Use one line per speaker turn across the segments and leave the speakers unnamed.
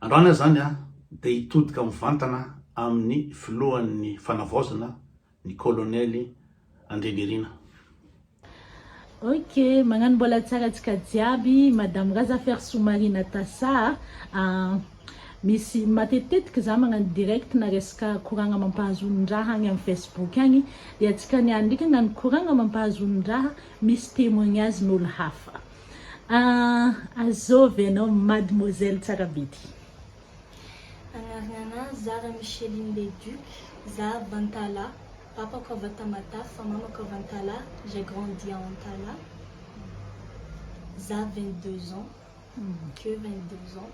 Androany aza zany dia hitodika mivantana amin'ny filohan'ny fanavaozana ny kolonely Andrianirina.
Ok, magnano mbola tsara antsika jiaby, madame Razafiarisoa Marie Natasa a, ah misy matetitetika za magnano direct na resaka koragna mampahazonin-draha agny am Facebook agny dia antsika niany ndreky agnano koragna mampahazonin-draha misy temoignage n'olo hafa. Ahh azôvy anao mademoiselle tsara be ty. Agnarana
anah Zara Micheline le Duc, za avy Antala, papako avy à Tamatave fa mamako avy Antala, j'ai grandi à Antala, za vingt deux ans, que vingt
deux ans,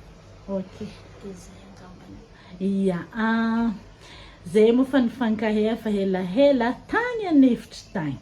Ok. de zay angambany. Ia ahh, zay moa fa nifankahay efa helahela tany an'efitry tagny.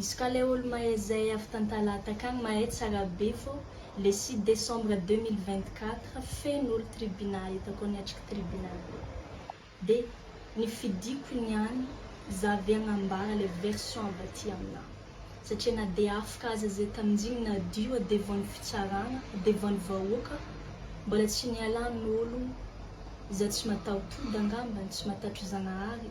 Izy ka le olo mahay zay avy tantalaha takagny mahay tsara be fô le six décembre deux mille vingt quatre feno olo tribunal hitako niatriky tribunal be de ny fidiko niany za ve agnambara le version avy aty amina satria na de afaka aza zay taminjigny nadio a devant ny fitsaragna devant ny vahoaka mbola tsy nialan olo za tsy mataho tody angambany tsy matatro zagnahary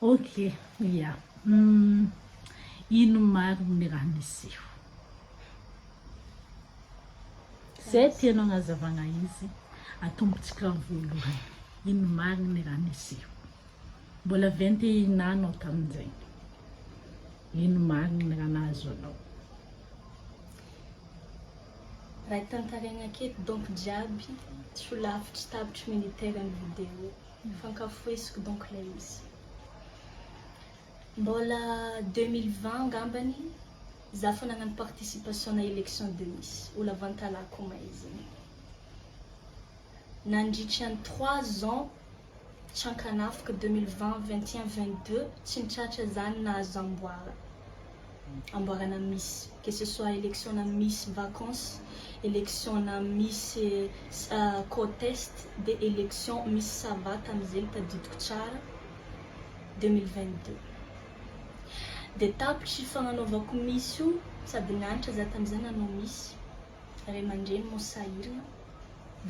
Ok
ya ino marigny ny raha niseho. Zay tianao agnazavagna izy atombontsika voalohany ino marigny ny raha niseho. Mbola vingt et un ans anao tamin'izegny. Ino marigny ny raha nahazo anao.
Raha tantaraigna aketo donc jiaby tsy ho lavitry tapitry militaire ny video. Nifankafoheziko donc ilay izy. Mbola deux mille vingt angambany za fa nagnano participation na election de miss ho lavantalahy ko maizina. Nandritra ny trois ans tsy ankanafiko deux mille vingt, vingt et un, vingt deux tsy nitratra zany nahazo amboara. amboarana misy que ce soit élection na misy vacances élection na misy contest de élection misy savate amizegny tadidiko tsara 2022 de tapitry fagnanaovako misy io sady nianatra za tamizay nanao misy ray aman-dreny moa sahirana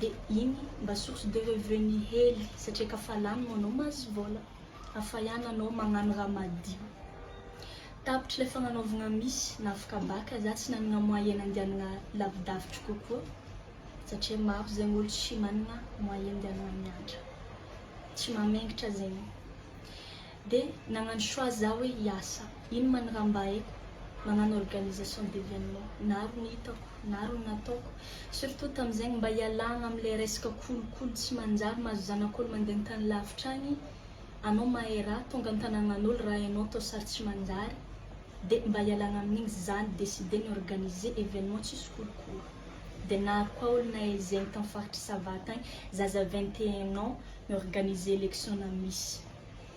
de igny mba source de revenu hely satria ka fa lany moa anao mahazo vola Hafa ihany anao magnano raha madio. Tapitra ilay fagnanaovagna miss na fkabaka za tsy nanagna moyen nandianagna lavidavitry kokoa satria maro zegny olo tsy managna moyen andianagna miantra tsy mamengitra zegny de nagnano choix za hoe hiasa. Iny ma ny raha mba haiko magnano organisation d'événement na ary ny hitako na ary ny nataoko surtout tamzegny mba hialagna amle resaka kolikoly tsy manjary mahazo zanakolo mande antany lavitra agny anao mahay raha tonga antanagnanolo raha enao atao sary tsy manjary de mba hialagna aminigny zany décidé ny organiser événement tsisy kolikoly de na ary koa olo nahay zegny tam faritry sava tagny zaza vingt et un ans mi organiser élection na miss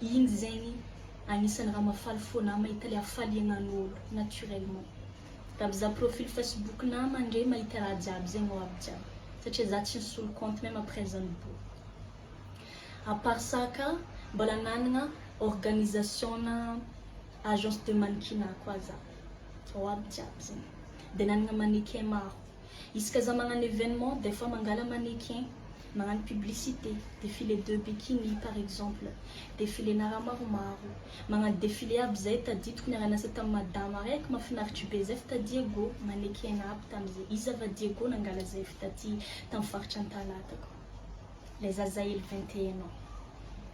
Injy zegny agnisany raha mafaly fô na mahita le hafaliagnan'olo naturellement. Raha mizaha profil facebook na mandre mahita raha jiaby zegny ho avy jiaby satria za tsy nisolo compte meme après zany bo. A part ça ka mbola nanagna organisation na agence de mannequinat koa za. Ao aby jiaby zegny. De nanagna mannequin maro. Isaka za magnano événement des fois mangala mannequin. Magnano publicité, défilé de bikini par exemple, défilé-na raha maromaro, magnano défilé aby zay, tadidiko niara-niasa tamin'ny madama araiky, mafinaritra be zay f'ta Diego, mannequin-na aby tamin'izay, iza va Diego nangala zay f'taty tamin'ny faritra Antalaha takao, lay zazahely vingt et un ans.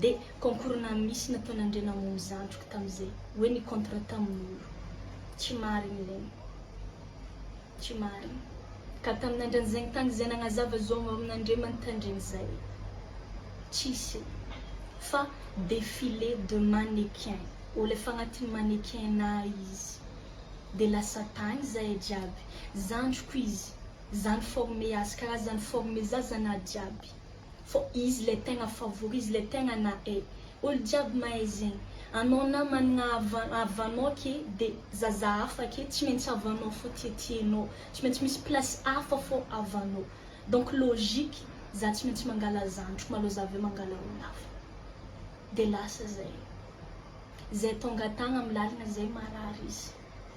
Dia concours na misy nataon'Andriana Hamono zandriko tamin'izay hoe ny contrat tamin'olo. Tsy marina ireny. Tsy marina. Ka tamin'Andrianzaigny tagny izay nagnazava zao mba amin'Andriamani Tandrigny zay. Tsisy. Fa défilé de mannequin. Olo efa agnatin'ny mannequinat izy. Dia lasa tagny zahay jiaby. Zandriko izy. Zany forme azy karaha zany forme zazanahy jiaby. Fô izy le tegna favori izy le tegna nahay olo jiaby mahay zegny anao na managna havan havanao ake de zaza hafa ake tsy maintsy havanao fô tiatianao tsy maintsy misy place hafa fô havanao donc logique za tsy maintsy mangala zandriko malô za aveo mangala olo hafa de lasa zay zay tonga tagna am lalagna zay marary izy.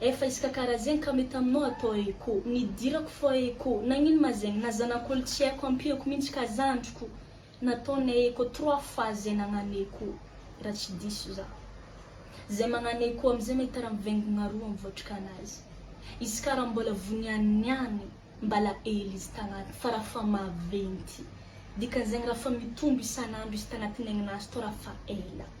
Efa isaka karazegny ka mety aminao atao eo ko nidirako fô eo ko nagnino ma zegny na zanak'olo tsy aiko ampiako mintsy ka zandriko nataonay eo ko trois fois zay nagnano eo ko ra tsy diso za zay magnano eo ko amizay mety ra mivengogna roa am voatrikanazy izy ka ra mbola voniany niany mbala ela izy tagnaty fa ra fa maventy dikanzegny ra fa mitombo isanandro izy tagnaty ny aigninazy tô ra fa ela.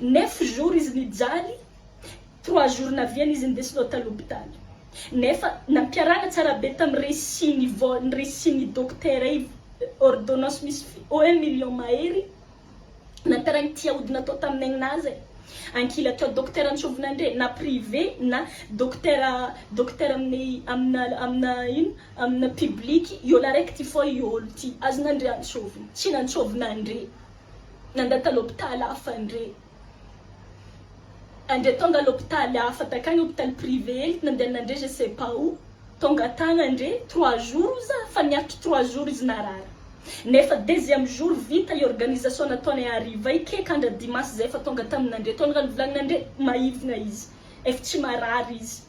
Neuf jours izy nijaly, trois jours naviany izy nindesina tany hopitaly. Nefa nampiarahana tsara be tamin'ny récit ny vol, ny récit ny docteur io, ordonnance misy fi, oh un million mahery, nampiarahany ity aody natao tamin'ny aigninahy zay. Ankilany teo docteur antsovina ndre, na privé na docteur, docteur amin'ny, amina, amina ino, amina public, iolo araiky ty foa iolo ty, azona ndre antsovina, tsy nantsovina ndre. nanda talo hopitaly hafa ndre andre tonga lopitaly hafa takany hopitaly privé hely nandehana ndre je sais pas où tonga tagna ndre trois jours ozy za fa niaritra trois jours izy narary nefa deuxième jour vita i organisation nataonay hariva i keka andra dimanche zay efa tonga tamina ndre tonga nivolagna ndre maivigna izy ef tsy marary izy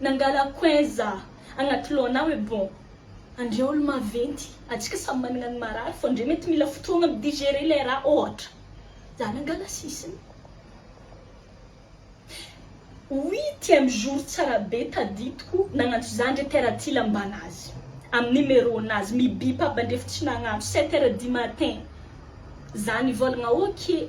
Nangala coin za agnaty lohanao hoe bon andre olo maventy atsika samy managna ny marary fô ndre mety mila fotoagna mi digerer lay raha ôhatra za nangala sisiny huitième jour tsara be tadidiko nagnantso za ndre père Aty lambana azy amy numéro nazy mi bip aby andrefo tsy nagnantso sept heures du matin za nivôlagna ok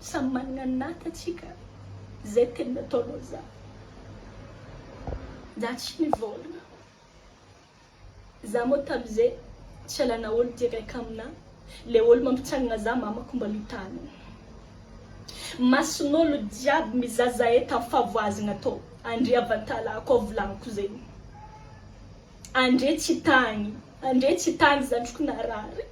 Samy managna ny nata tsika zay teny nataonao za za tsy nivôlagna za mô tamizay tsy alana olo ty reka amina le olo mampitsanagna za mamako mba mitanigny masonolo jiaby miza zahay tam favoazagna tô andre avatala ko volaniko zegny andre tsy tagny andre tsy tagny zandriko narary.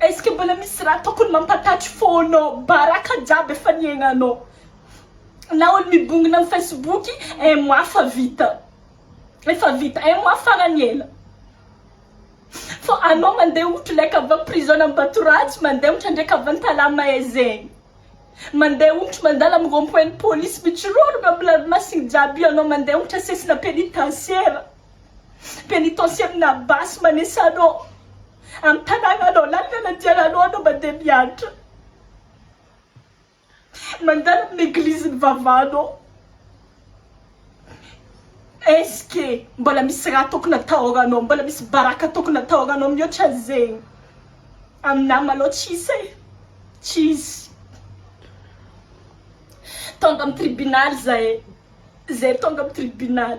Est-ce que mbola misy raha tokony mampatatry fo anao? Baraka jiaby efa niaignanao. Na olo mibongona am facebook, un mois fa vita. Efa vita, un mois farany ela. Fô anao mandeha ohatra leka avy am prison Ambattoratsy, mandeha ohatra ndraiky avy an Tala Mahay zegny. Mandeha ohatra mandalo am rond point ny police, mitsororogno am ranomasigny jiaby io anao mandeha ohatra sesina penitentiaire. Penitensia amina basy manesa anao am tanàna anao lalina nandiana anao anao mba dia miantra mandalo amina eglizy ny vavanao est-ce que mbola misy raha tokony atahoranao mbola misy baraka tokony atahoranao mihoatra an'izegny aminah malao tsisy e tsisy tonga am tribunal zahay zahay tonga am tribunal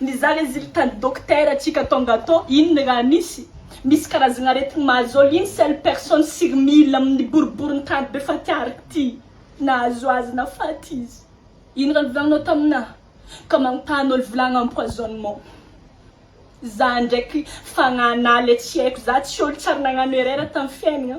Ny za le zily tany docteur tsika tonga to inn raha misy misy karazagna aretigny mahazo ol inn seule personne sur mille aminy boribory ny tany be faty ark ty nahazo azy na faty izy inn raha nivolagninao tamina ka manontany ol volagna empoisonnement za ndraiky fagnana le tsy aiko za tsy ol tsary nagnano erreur tamy fiainagna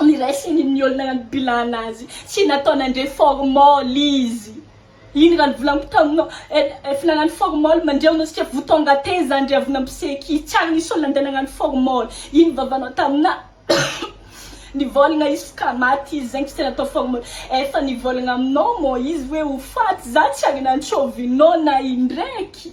ny raisiny ny olona nanibilana azy sy natao nandre formol izy iny raha ny volako taminao eh, efa nagnano formol mandreo no sika vous tongatez zany ry avona mpiseky tsy ary nisy olona ndeha nagnano formol iny vavanao tamina nivolagna izy fka maty izy zegny tsy tena atao formol efa nivolagna aminao mô izy hoe ho faty za tsy ary nantsovinao na indraiky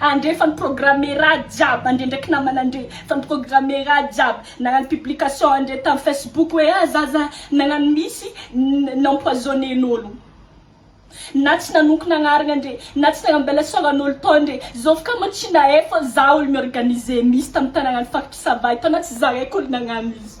Andre fa ny programme ra jiaby andre ndraiky namana andre fa ny programme ra jiaby nagnano publication andre tam facebook hoe ah zaza nagnano misy n'empoisonne n'olo na tsy nanonko nagnarina andre na tsy nagnambela sora n'olo tao andre zovy ka moa tsy nahay fa za olo mi organiser misy tam tanagna any faritry sava y tao na tsy zahay ko olo nagnano izy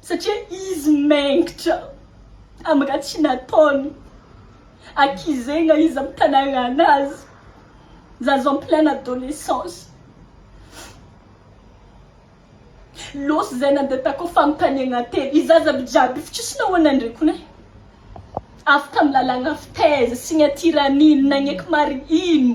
Satria izy mengitra am raha tsy nataony akizegna izy am tanarana azy zaza en pleine adolescence losy zay nande takao fanontaniagna telo i zaza aby jiaby fa tsisy nahoana ndry kony e avy tam lalagna fitaiza signature anino nagneky marigny ino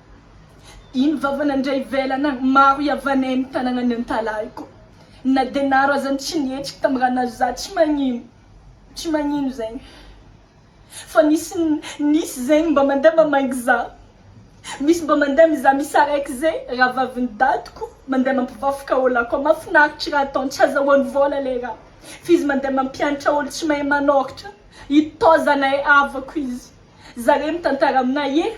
Iny vavana ndray ivelana maro ihavanay ny tananany antalahiko na dia naro aza ny tsy nihetsiky tam ra nazo za tsy magnino tsy magnino zegny fa nisy nisy zegny mba mandeha mba maigny za misy mba mandeha miza misaraiky ze rahavaviny dadiko mandeha mampivafoka olo akao mafinaritry ra ataony tsy azahoany vola le ra fizy mandeha mampiantra olo tsy mahay manôritra ito zanay havako izy zare mitantara amina ye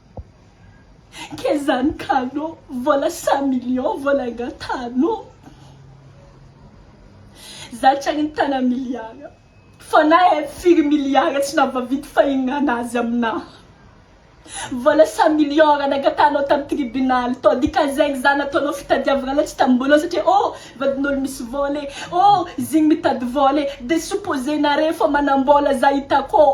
Kely zany kalo, vola cent millions vola aingatano, za tsy ary nitana milliard, fa na hay firy milliard tsy navavidy fa hihinana azy amina, vola cent millions raha nangatahanao tam tribunal tao dikazegny za nataonao fitadiavagna latsy tam bolon satria oh vadin'olo misy vola e, oh zigny mitady vola e, de supposé nare fa manambola za hitako ô.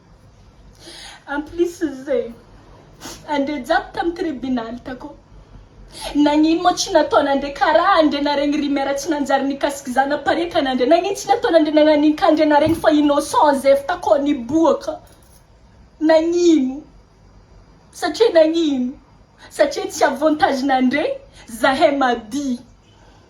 En plus ze andre jiaby tam tribunal takao nagnino moa tsy nataonandre karaha andre naregny ry mère tsy nanjary nikasiky za naparitana andre nagnino tsy nataonandre nagnanin ka andre naregny fa innocent ze avy takao niboaka nagnino satria nagnino satria tsy avantage nandre zahay mady.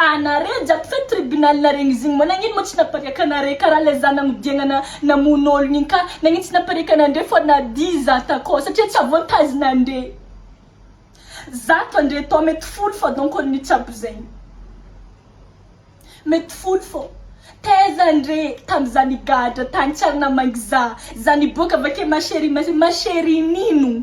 Ana re jiaby fe tribunal naregny izy igny moa nagnino moa tsy napariaka anare karaha le za nagnodiagna na namono ologno igny ka nagnino tsy napariaka anandre fô nadia za takao satria tsy avoantazigna andre zato andre tô mety folo fô donc olo mitsabo zegny mety folo fô taiza andre tam za nigadra tagny tsy ary namangy za za niboaka avake ma cherie ma cherie nino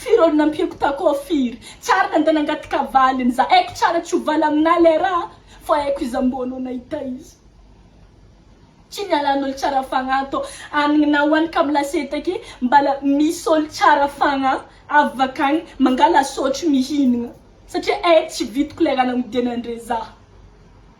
Firy olo nampiako tako firy Tsara nande nangataka valiny za Aiko tsara tsy ho valy aminah lay raha Fa aiko iza mbô anao nahita izy Tsy nialan olo tsara fagnahy tô Anigna ho any kamo lasety ake Mbala misy olo tsara fagnahy Avy vakagny mangala sotry mihinagna Satria eh tsy vitiko lay raha nagnodianan dre za.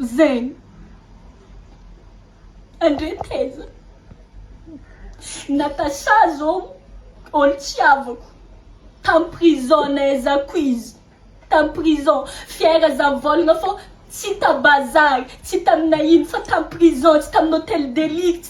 Zen. Andre taiza? Natacha zao olo tsy havako tam prison nay za quiz tam prison fiera za volagna fô tsy ta bazary tsy taminay ino fa tam prison tsy tamin'ny hotel de luxe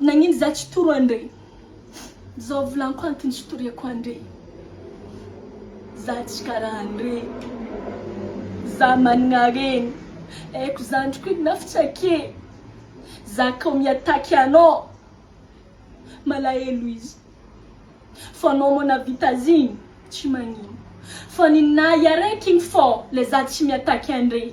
Nagnino za tsy toro andre? Zao volanko antony tsy toriako andre Za tsy karaha andre Za managna harena Haiko zandriko inona fitsake Za k'ao mi-attaque anao Malahelo izy Fa anao moa navita azigny Tsy magnino Fa ninahy araiky igny fô Le za tsy mi-attaque andre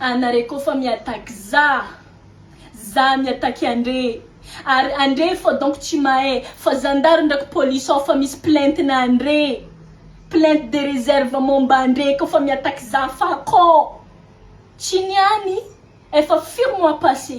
Anare ko fa mi attaque za, za mi attaque andre, ary andre efa donc tsy mahay fa zandary ndraiky police ao fa misy plainte na andre, plainte de reserve momba andre ko fa mi attaque za fa ko tsy niany efa firy mois passe.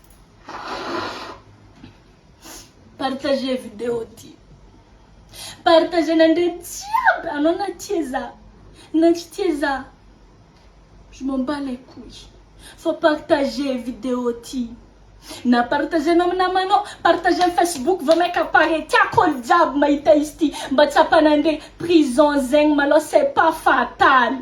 Partager video ty. Partager nandre jiaby anao na tia za na tsy tia za. Je m'en bats les couilles fa partager video ty. Na partager anao amin'ny namanao, partager amin'ny facebook vao maika pare tiako olo jiaby mahita izy ty mba tsapa nandre prison zegny malôha c'est pas fatal.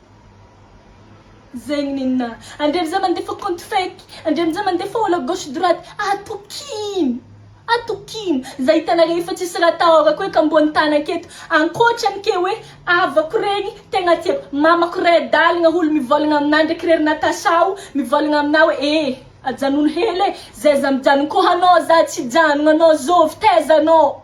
Zegny nina. Andria amizay mandefa compte fake, andria amizay mandefa olo à gauche droite, atokino! Atokino! Za hitanareo efa tsisy raha atahorako eky ambony tany aketo, ankoatrany ke hoe havako regny tegna tiako, mamako ray adalagna olo mivolagna amina ndraiky re ry Natacha o, mivolagna amina hoe ee ajanogno hely e, zay za mijanogno ko anao za tsy hijanogno anao zovy taiza anao.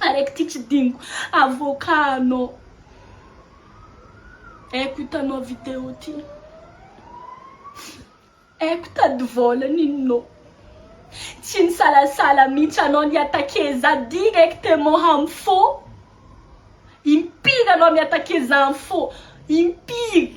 Araiky ty tsy diniko avocat anao Aiko hitanao vidéo ty Aiko tady vola ninonao Tsy nisalasala mihitsy anao ni attaquer za directement ham'fo Impiry anao mi attaquer za am'fo Impiry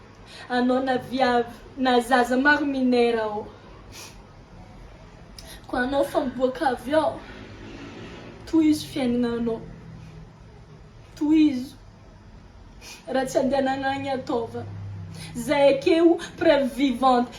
Anao na viavy na zaza maro minera ô. Ko anao fa miboaka avy ao. Tohizo fiaignananao. Tohizo. Raha tsy andehanagna agny ataova. Zay ake o preuve vivante.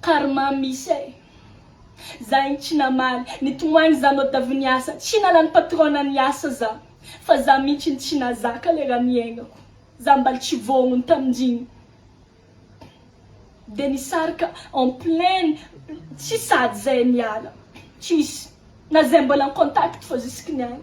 Karma misy eh. Za igny tsy namaly, nitomoagny za mode avy niasa, tsy nalany patronne niasa za, fa za mintsy no tsy nazaka le raha niaignako, za mbaly tsy voaogno taminjigny, de nisarika en plein tsy sady zay niala, tsisy na zay mbola en contact fa jusque niany.